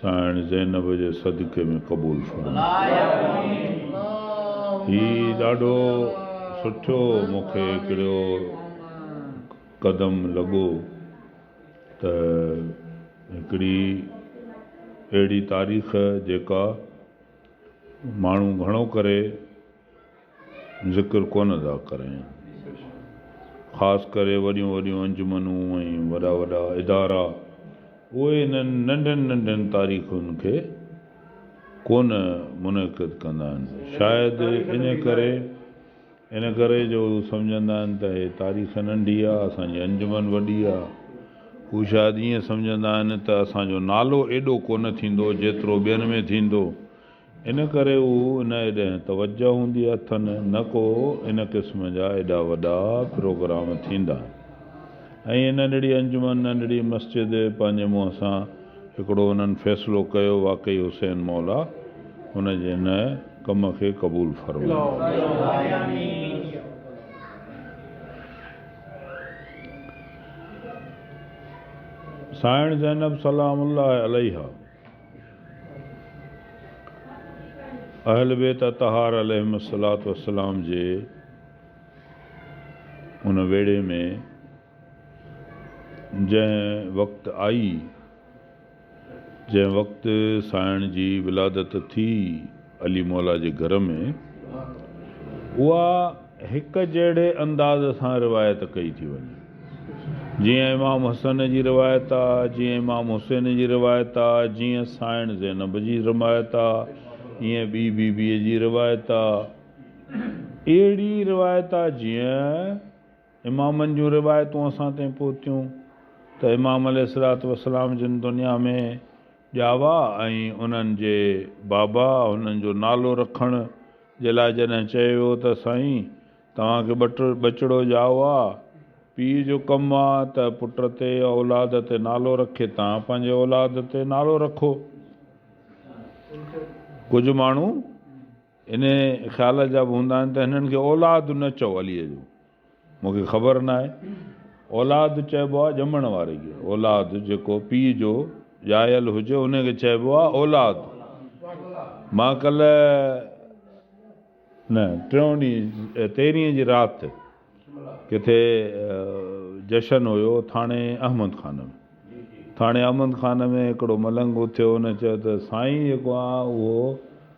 سائڻ زينب جي صدقي ۾ قبول فرما هي ڏاڍو سٺو مونکي هڪڙو قدم لڳو ته هڪڙي اهڙي تاريخ جيڪا ماڻهو گهڻو ڪري ذڪر ڪونه ٿا ڪرين. خاص ڪري وڏيون وڏيون انجمنون ۽ وڏا وڏا ادارا اهي انهن ننڍين ننڍين تاريخن کي ڪونه منعقد ڪندا آهن. شايد ان ڪري ان ڪري جو هو سمجهندا آهن ته هي تاريخ ننڍي آهي اسان جي انجمن وڏي آهي. هو شايد ائين سمجهندا آهن ته اسان جو نالو ايڏو ڪونه ٿيندو جيترو ٻين ۾ ٿيندو. ان ڪري هو ان ايڏهن توجه هوندي اٿن نه ڪو ان قسم جا ايڏا وڏا پروگرام ٿيندا آهن ۽ هي ننڍڙي انجمن ننڍڙي مسجد پنهنجي منهن سان هڪڙو انهن فيصلو ڪيو واقعي حسين مولا هن جي ان ڪم کي قبول فرمائي. سائڻ زينب سلام الله عليها. اهل بيت اطهار عليهم الصلوة والسلام جي ان ويڙهي ۾ جنهن وقت آئي، جنهن وقت سائڻ جي ولادت ٿي، علي مولا جي گهر ۾ اها هڪ جهڙي انداز سان روايت ڪئي ٿي وڃي. جيئن امام حسن جي روايت آ، جيئن امام حسين جي روايت آ، جيئن سائڻ زينب جي روايت آ، ايئن ٻي بي بيء جي روايت آ. اهڙي روايت آ جيئن. امامن جون روايتون اسان تائين پهتيون ته امام عليه الصلوة والسلام جن دنيا ۾ ڄاوا ۽ انهن جي بابا هنن جو نالو رکڻ جي لاء جڏهن چيو ويو ته سائين توهان کي ٻچڙو ڄائو آ پيء جو ڪم آ ته پٽ تي يا اولاد تي نالو رکي توهان پنهنجي اولاد تي نالو رکو ڪجهه ماڻهو انهيء خيال جا به هوندا آهن ته هنن کي اولاد نه چئو عليء جو مون کي خبر نه آهي اولاد چئبو آهي ڄمڻ واري کي اولاد جيڪو پيء جو ڄايل هجي انهيء کي چئبو آهي اولاد مان ڪلهه نه ٽيون ڏينهن تيرهين جي رات ڪٿي جشن هيو ٿاڻي احمد خان ۾ ٿاڻي احمد خان ۾ هڪڙو ملنگ اٿيو هن چيو ته سائين جيڪو آهي اهو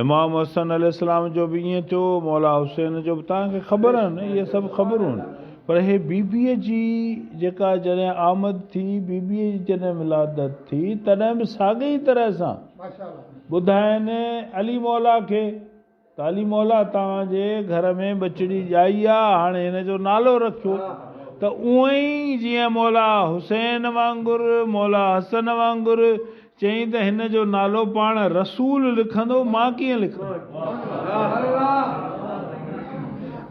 امام حسن عليه السلام جو به ائين ٿيو مولا حسين جو به توهان کي خبر آهن اهي سڀ خبرون آهن پر هي بيبيء جي جيڪا جڏهن آمد ٿي بيبيء جي جڏهن ولادت ٿي تڏهن به ساڳئي طرح سان ٻڌائين علي مولا کي ڪالي مولا توهان جي گهر ۾ ٻچڙي ڄائي آ هاڻي هن جو نالو رکيو ته اونئن ئي جيئن مولا حسين وانگر مولا حسن وانگر چئين ته هن جو نالو پاڻ رسول لکندو مان ڪيئن لکندس.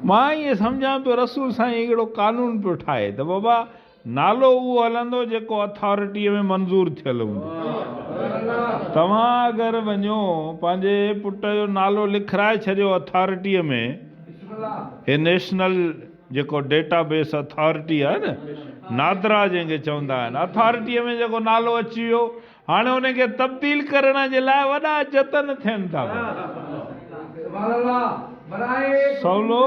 مان ائين سمجهان پيو رسول سائين هڪڙو قانون پيو ٺاهي ته بابا نالو اهو هلندو جيڪو اٿارٽيء ۾ منظور ٿيل هوندو. توهان اگر وڃو پنهنجي پٽ جو نالو لکرائي ڇڏيو اٿارٽيء ۾ هي نيشنل جيڪو ڊيٽا بيس اٿارٽي آهي نه نادرا جنهن کي چوندا آهن اٿارٽيء ۾ جيڪو نالو اچي ويو هاڻي ان کي تبديل ڪرڻ جي لاء وڏا جتن ٿين ٿا پيا. سولو.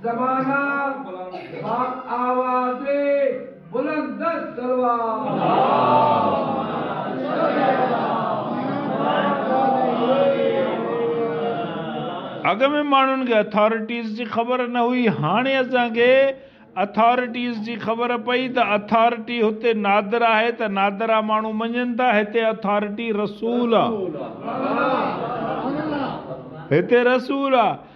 زمانه باب آواز بلند دست صلوات. اڳ ۾ ماڻهن کي اٿارٽيز جي خبر نه هئي هاڻي اسان کي اٿارٽيز جي خبر پئي ته اٿارٽي هتي نادر آهي ته نادرا ماڻهو مڃن ٿا هتي اٿارٽي رسول آ هتي رسول آ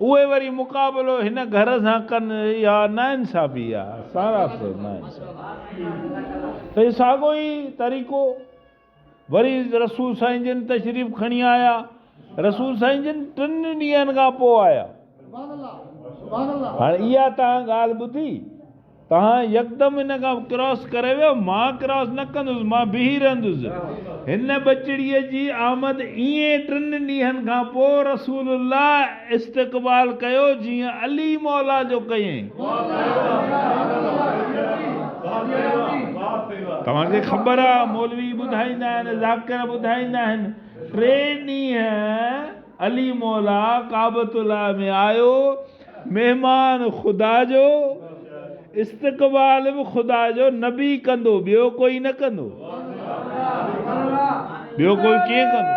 اهي وري مقابلو هن گهر سان ڪن اها ناانصافي آ ساراسر ناانصافي ته ساڳو ئي طريقو وري رسول سائين جن تشريف کڻي آيا رسول سائين جن ٽن ڏينهن کان پوء آيا هاڻ اها تهان ڳالهه ٻڌي توهان يڪدم هن کان ڪراس ڪري ويو، مان ڪراس نه ڪندس، مان بيهي رهندس. هن ٻچڙيء جي آمد ائين ٽن ڏينهن کان پوء رسول الله استقبال ڪيو، جيئن علي مولا جو ڪيئي. توهان کي خبر آ، مولوي ٻڌائيندا آهن، ذاڪر ٻڌائيندا آهن، ٽي ڏينهن علي مولا ڪعبة الله ۾ آيو، مهمان خدا جو استقبال به خدا جو نبي ڪندو ٻيو ڪوئي نه ڪندو ٻيو ڪوئي ڪيئن ڪندو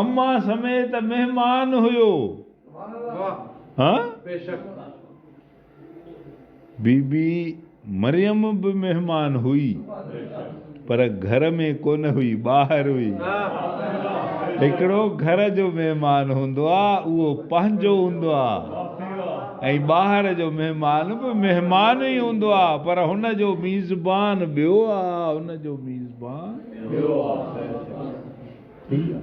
اما سميت مهمان هيو. بي بي مريم به مهمان هئي پر گهر ۾ ڪونه هئي ٻاهر هئي. هڪڙو گهر جو مهمان هوندو آ اهو پنهنجو هوندو آ. ۽ ٻاهر جو مهمان به مهمان ئي هوندو آهي پر هن جو ميزبان ٻيو آهي هن جو ميزبان ٻيو آهي ٺيڪ آهي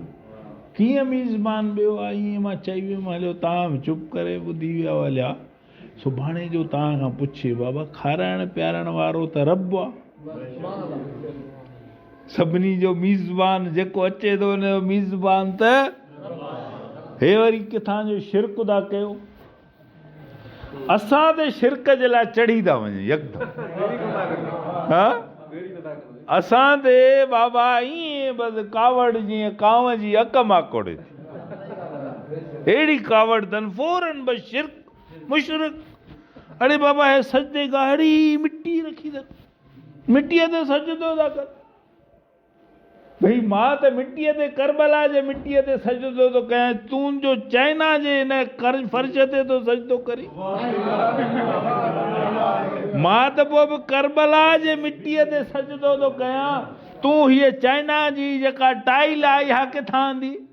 ڪيئن ميزبان ٻيو آهي ائين مان چئي ويم هليو توهان به چپ ڪري ٻڌي ويا هليا سڀاڻي جو توهان کان پڇي بابا کارائڻ پيارڻ وارو ته رب آهي سڀني جو ميزبان جيڪو اچي ٿو ان جو ميزبان ته هي وري ڪٿان جو شرڪ ٿا ڪيو اسان تي شرڪ جي لاء چڙهي ٿا وڃن يڪدم ها اسان تي بابا ائين بس ڪاوڙ جيئن ڪانو جي اڪ ماڪوڙي ٿي اهڙي ڪاوڙ تن فورن بس شرڪ مشرڪ اڙي بابا هي سجدي گاهڙي مٽي رکي ٿا مٽيء تي سجدو ٿا ڪن ڀئي مان ته مٽيء تي ڪربلا جي مٽيء تي سجدو ٿو ڪيان تون جو چائنا جي هن ڪرج فرش تي ٿو سجدو ڪرين مان ته پوء به ڪربلا جي مٽيء تي سجدو ٿو ڪيان تون هيء چائنا جي جيڪا ٽائل آهي اها ڪٿان آندي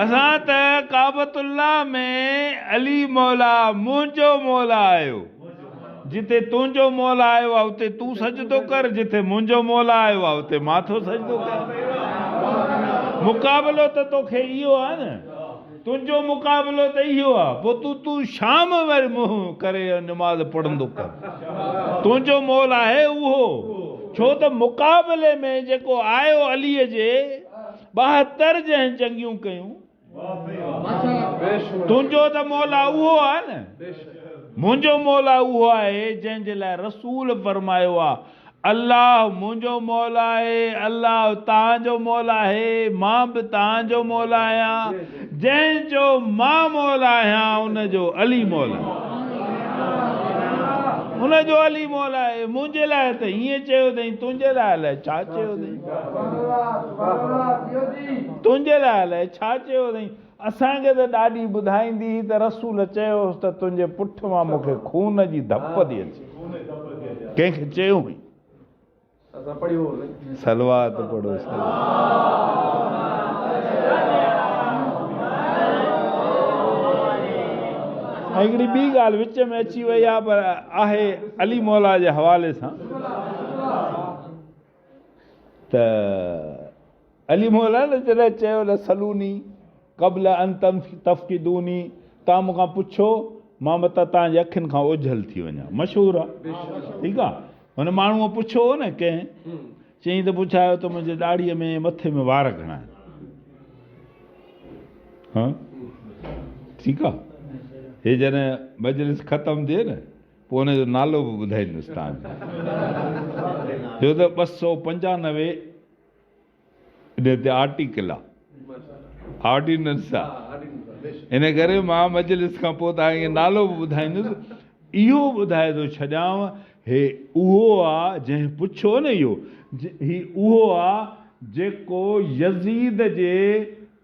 اسان ته ڪعبت الله ۾ علي مولا منهنجو مولا آيو جتي تنهنجو مولا آيو آهي اتي تون سجدو ڪر جتي منهنجو مولا آيو آهي اتي مان ٿو سجدو ڪيان مقابلو ته توکي اهو آهي نه تنهنجو مقابلو ته اهو آ پوء تون تون شام ويل منهن ڪري نماز پڙهندو ڪر تنهنجو مول آهي اهو ڇو ته مقابلي ۾ جيڪو آيو علي جي ٻاهتر جنهن جنگيون ڪيون تنهنجو ته مولا اهو آ نه منهنجو مولا اهو آهي جنهن جي لاء رسول فرمايو آ الله منهنجو مولا آهي، الله توهان جو مولا آهي، مان به توهان جو مولا آهيان، جنهن جو مان مولا آهيان ان جو علي مولا آهي. ان جو علي مولا آهي، منهنجي لاء ته ائين چيو اٿئي، تنهنجي لاء الائي ڇا چيو اٿئي؟ تنهنجي لاء الائي ڇا چيو اٿئي؟ اسان کي ته ڏاڏي ٻڌائيندي هئي ته رسول چيو هوس ته تنهنجي پٺ مان مون کي خون جي ڌپ ٿي اچي. ڪنهن کي چيو هئي؟ صلوات پڙهو ۽ هڪڙي ٻي ڳالهه وچ ۾ اچي وئي آهي پر آهي علي مولا جي حوالي سان ته علي مولان جڏهن چيو ته سلوني قبل ان تفقدوني توهان مون کان پڇو مان متان توهان جي اکين کان اوجهل ٿي وڃان مشهور آهي ٺيڪ آهي هن ماڻهوء پڇيو هو نه ڪنهن چيائين ته پڇايو ته منهنجي ڏاڙهيء ۾ مٿي ۾ وار گهڻا آهن ها ٺيڪ آهي هي جڏهن مجلس ختم ٿئي نه پوء ان جو نالو به ٻڌائيندس توهان کي. ڇو ته ٻه سؤ پنجانوي ان تي آرٽيڪل آ، آرڊيننس آ. ان ڪري مان مجلس کان پوء توهان کي نالو به ٻڌائيندس. اهو ٻڌائي ٿو ڇڏيانء هي اهو آ جنهن پڇيو نه اهو هي اهو آ جيڪو يزيد جي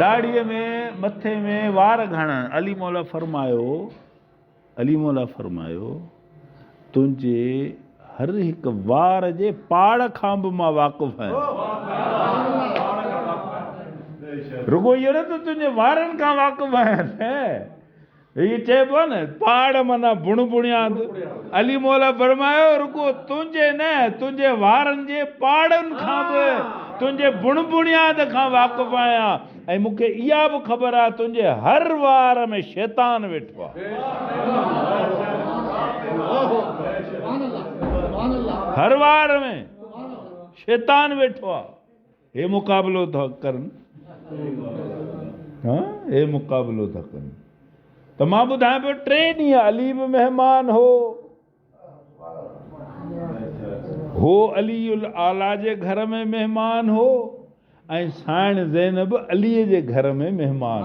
ڏاڙهيء ۾ مٿي ۾ وار گهڻڻ. علي مولا فرمايو، علي مولا فرمايو، تنهنجي هر هڪ وار جي پاڙ کان به مان واقف آهيان. رڳو اهو نه ته تنهنجي وارن کان واقف آهيان نه هيء چئبو نه، پاڙ معنيٰ بڻ بڻياد. علي موليٰ فرمايو، رڳو تنهنجي نه، تنهنجي وارن جي پاڙن کان به تنهنجي بڻ بڻياد کان واقف آهيان ۽ مون کي اها به خبر آهي تنهنجي هر وار ۾ شيطان ويٺو آهي. هر وار ۾ شيطان ويٺو آهي. هي مقابلو ٿا ڪرن ها هي مقابلو ٿا ڪرن ته مان ٻڌايان پيو ٽي ڏينهن علي به مهمان هو هو علي الاعليٰ جي گهر ۾ مهمان هو ۽ سائڻ زينب علي جي گهر ۾ مهمان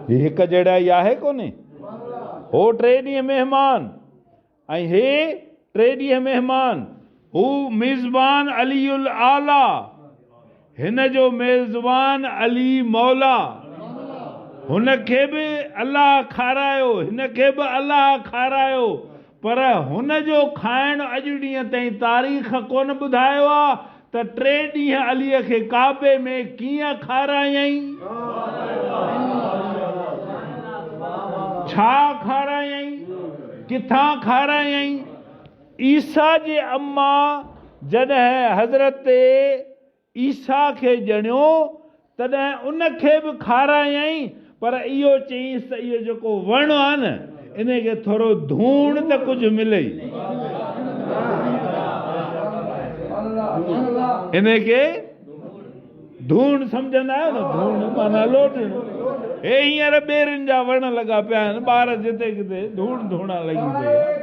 هي هڪ جهڙا ئي آهي ڪونهي هو ٽي ڏينهن مهمان ۽ هي ٽي ڏينهن مهمان، هو ميزبان علي الاعليٰ، هن جو ميزبان علي مولا، هن کي به الله کارايو، هن کي به الله کارايو، پر هن جو کائڻ اڄ ڏينهن تائين تاريخ ڪونه ٻڌايو آ ته ٽي ڏينهن عليء کي ڪعبي ۾ ڪيئن کارايائين؟ ڇا کارايائين؟ ڪٿان کارايائين؟ عيسيٰ جي امان جڏهن حضرت عيسيٰ کي ڄڻيو تڏهن ان کي به کارايائين، پر اهو چيائينس ته اهو جيڪو وڻ آهي نه، انهي کي ٿورو ڌوڻ ته ڪجهه ملئي. انهي کي ڌوڻ سمجهندا آهيو نه، ڌوڻ معنيٰ لوڏڻ. هي هينئر ٻيرين جا وڻ لڳا پيا آهن، ٻار جتي ڪٿي ڌوڻ ڌوڻان لڳي پئي آهي.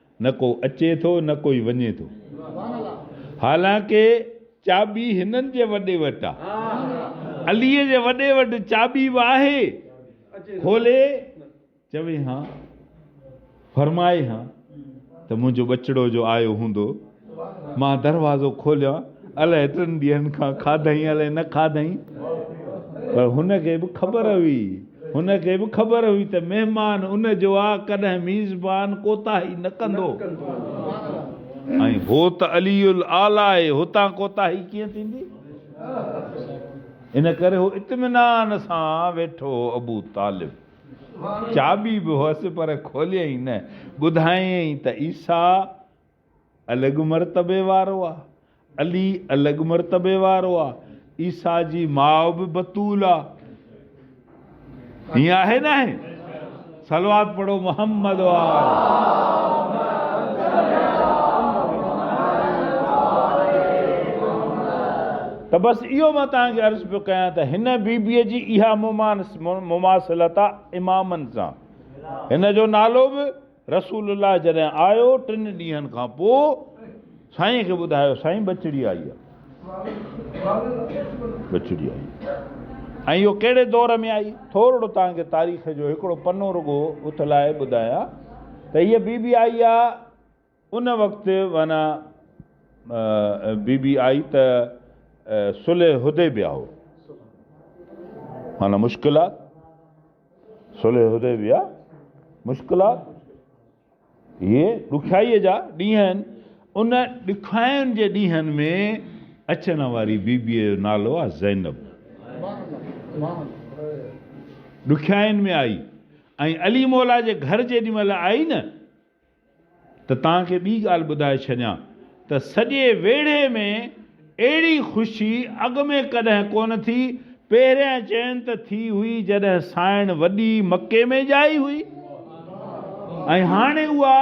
نه ڪو اچي ٿو نه ڪوئي وڃي ٿو حالانڪه چاٻي هنن جي وڏي وٽ آ علي جي وڏي وٽ چاٻي به آهي کولي چوي هان فرمائي هان ته منهنجو ٻچڙو جو آيو هوندو مان دروازو کوليان الاء ايترن ڏينهن کان کاڌئين الاء نه کاڌئين پر هن کي به خبر هئي هن کي به خبر هئي ته مهمان ان جو آ ڪڏهن ميزبان ڪوتاهي نه ڪندو ۽ هو ته علي الاعليٰ آهي هتان ڪوتاهي ڪيئن ٿيندي ان ڪري هو اطمينان سان ويٺو هو ابو طالب چاٻي به هئس پر کوليئين نه ٻڌايئين ته عيسيٰ الڳ مرتبي وارو آ. علي الڳ مرتبي وارو آ. عيسيٰ جي ماء به بتول آ. ائين آهي ناهي؟ صلوات پڙهو محمد ته بس اهو مان توهان کي عرض پيو ڪيان ته هن بي بي جي اها مماثلت آ امامن سان هن جو نالو به رسول الله جڏهن آيو ٽن ڏينهن کان پوء سائين کي ٻڌايو سائين ٻچڙي آئي آ ٻچڙي آئي ۽ اهو ڪهڙي دور ۾ آئي ٿورڙو توهان کي تاريخ جو هڪڙو پنو رڳو اٿلائي ٻڌايان ته هيء بي بي آئي آ ان وقت معنيٰ بي بي آئي ته صلح حديبيه هو معنيٰ مشڪلات صلح حديبيه، مشڪلات اهي ڏکيائيء جا ڏينهن آهن، ان ڏکاين جي ڏينهن ۾ اچڻ واري بيبيء جو نالو آهي زينب، ڏکيائين ۾ آئي ۽ علي مولا جي گهر جيڏي مهل آئي نه، ته توهان کي ٻي ڳالهه ٻڌائي ڇڏيان ته سڄي ويڙهي ۾ اهڙي خوشي اڳ ۾ ڪڏهن ڪونه ٿي، پهريان چين ته ٿي هئي جڏهن سائڻ وڏي مڪي ۾ ڄائي هئي ۽ هاڻي اها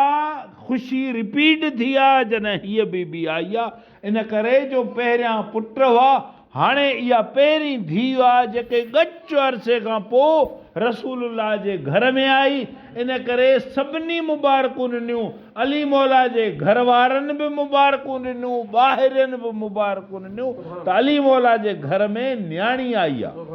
خوشي رپيٽ ٿي آ جڏهن هيء بيبي آئي آ. ان ڪري جو پهريان پٽ هئا، هاڻي اها پهرين ڌيء آ جيڪي ڳچ عرصي کان پوء رسول الله جي گهر ۾ آئي، ان ڪري سڀني مبارڪون ڏنيون، علي مولا جي گهر وارن به مبارڪون ڏنيون، ٻاهرين به مبارڪون ڏنيون ته علي مولا جي گهر ۾ نياڻي آئي آ. بس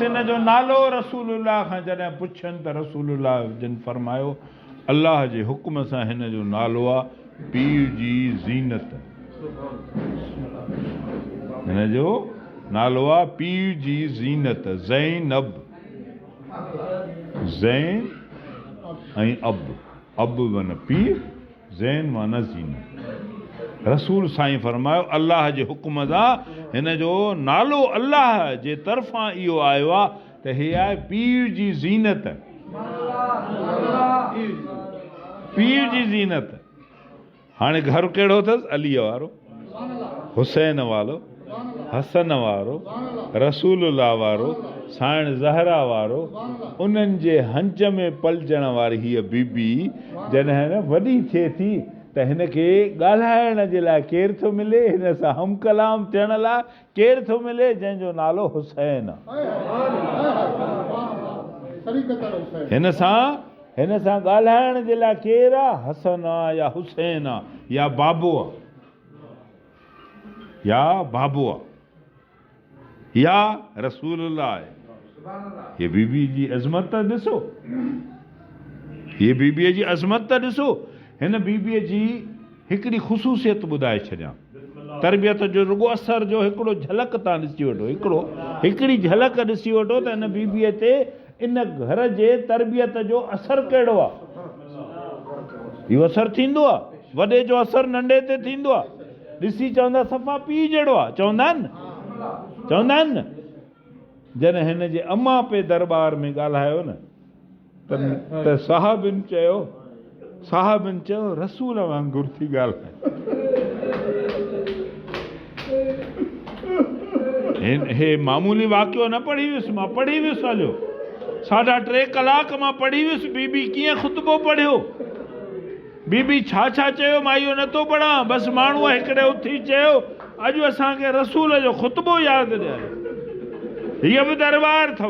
ان جو نالو رسول الله کان جڏهن پڇين ته رسول الله جن فرمايو الله جي حڪم سان هن جو نالو آ پي جي زينت هن جو نالو آ پي جي زينت زينب زين ۽ اب، اب معنيٰ پيء، زين معنيٰ زينو. رسول سائين فرمايو، الله جي حڪم سان هن جو نالو الله جي طرفان اهو آيو آهي ته هي آهي پيء جي زينت. پيء جي زينت. هاڻي گهر ڪهڙو اٿس عليء وارو، حسين والو، حسن وارو، رسول الله وارو، سائڻ زهرا وارو، انهن جي هنج ۾ پلجڻ واري هيء بي بي جڏهن وڏي ٿئي ٿي ته هن کي ڳالهائڻ جي لاء ڪير ٿو ملي، هن سان هم ڪلام ٿيڻ لاء ڪير ٿو ملي جنهن جو نالو حسين. هن سان هن سان ڳالهائڻ جي لاء ڪير آ حسن آ يا حسين آ يا بابو آ يا بابو آ يا رسول الله آهي هي بيبي جي عظمت ته ڏسو هي بيبي جي عظمت ته ڏسو هن بيبي جي هڪڙي خصوصيت ٻڌائي ڇڏيان. تربيت جو رڳو اثر جو هڪڙو جهلڪ تان ڏسي وٺو هڪڙو هڪڙي جهلڪ ڏسي وٺو ته ان بيبيء تي ان گهر جي تربيت جو اثر ڪهڙو آ. اهو اثر ٿيندو آ. وڏي جو اثر ننڍي تي ٿيندو آ. ڏسي چوندا صفا پيء جهڙو آ. چوندا آهن نه. چوندا آهن نه. جڏهن هن جي امان پي درٻار ۾ ڳالهايو نه. ته صحابين چيو صحابين چيو رسول وانگر ٿي ڳالهائين هن هي معمولي واقعو نه پڙهي ويس مان پڙهي ويس هليو ساڍا ٽي ڪلاڪ مان پڙهي ويس بي بي ڪيئن خطبو پڙهيو بي بي ڇا ڇا چيو مان اهو نه ٿو پڙهان بس ماڻهو هڪڙي اٿي چيو اڄ اسان کي رسول جو خطبو ياد ڏياريو هيء به دربار اٿو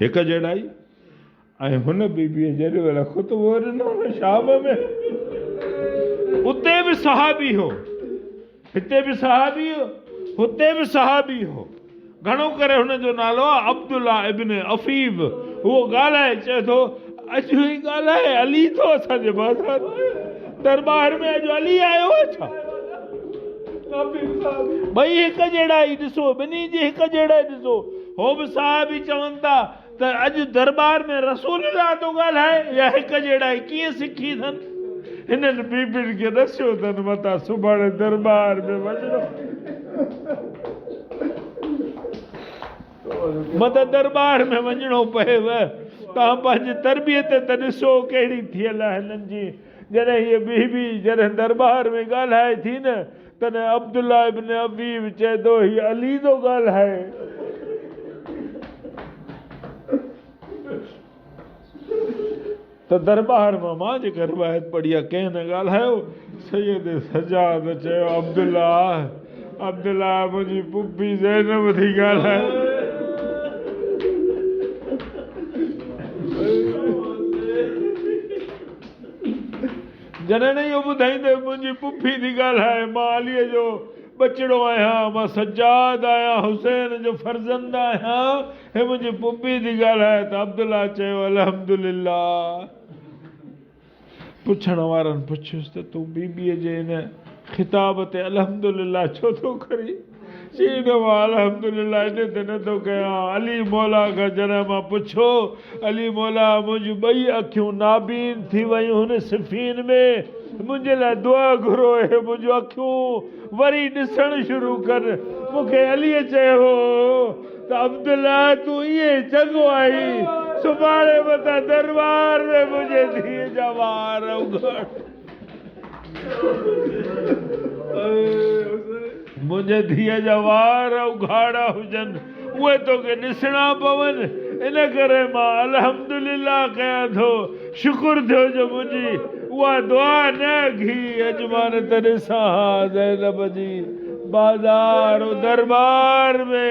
هڪ جهڙائي ۽ هن بي بي جڏهن ويل خطبو ڏنو هن شام ۾ اتي به صحابي هو هتي به صحابي هو هتي به صحابي هو گهڻو ڪري هن جو نالو آهي عبدالله ابن عفيف. هو ڳالهائي چئي ٿو، اڄ هي ڳالهائي علي ٿو اسان جي بازار درٻار ۾ اڄ علي آيو آهي ڇا؟ ٻئي هڪ جهڙا ئي ڏسو، ٻنهي جي هڪ جهڙا ئي ڏسو. هو به صاحب ئي چون ٿا. ته اڄ درٻار ۾ رسول الله ٿو ڳالهائي يا هڪ جهڙائي ڪيئن سکي اٿن؟ هنن بيبين کي ڏسيو اٿن متان سڀاڻي درٻار ۾ وڃڻو متان درٻار ۾ وڃڻو پيو توهان پنهنجي تربيت ته ڏسو ڪهڙي ٿيل آهي هنن جي جڏهن هيء بيبي جڏهن درٻار ۾ ڳالهائي ٿي نه تڏهن عبدالله ابن ابي به چئي ٿو، هي علي ٿو ڳالهائي. ته درٻار مان مان جيڪا روايت پڙهي آهي، ڪنهن نه ڳالهايو. سيد سجاد چيو، عبدالله! عبدالله! منهنجي پڦي زينب ٿي ڳالهائي. جڏهن اهو ٻڌائين ته منهنجي پڦي ٿي ڳالهائي، مان عليء جو ٻچڙو آهيان، مان سجاد آهيان، حسين جو فرزند آهيان، هي منهنجي پڦي ٿي ڳالهائي ته عبدالله چيو الحمدلله. پڇڻ وارن پڇيس ته تون بيبيء جي ان خطاب تي الحمدلله ڇو ٿو ڪرين؟ سيد وال حمد لله تي تنتو ڪيان، علي مولا کان جڏهن مان پڇيو، علي مولا منهنجون ٻئي اکيون نابين ٿي ويون هن صفين ۾، منهنجي لاء دعا گهرو اهي منهنجون اکيون وري ڏسڻ شروع ڪن، مون کي علي چيو ته عبدالله تون ائين چڱو آهين، سڀاڻي متان درٻار ۾ منهنجي ڌيء جا وار اگهاڙ. منهنجي ڌيء جا وار اگهاڙا هجن، اهي توکي ڏسڻا پون، ان ڪري مان الحمدلله ڪيان ٿو. شڪر ٿيو جو منهنجي اها دعا نه اگهي، اڄ مان نه ته ڏسان ها زينب جي بازار و درٻار ۾.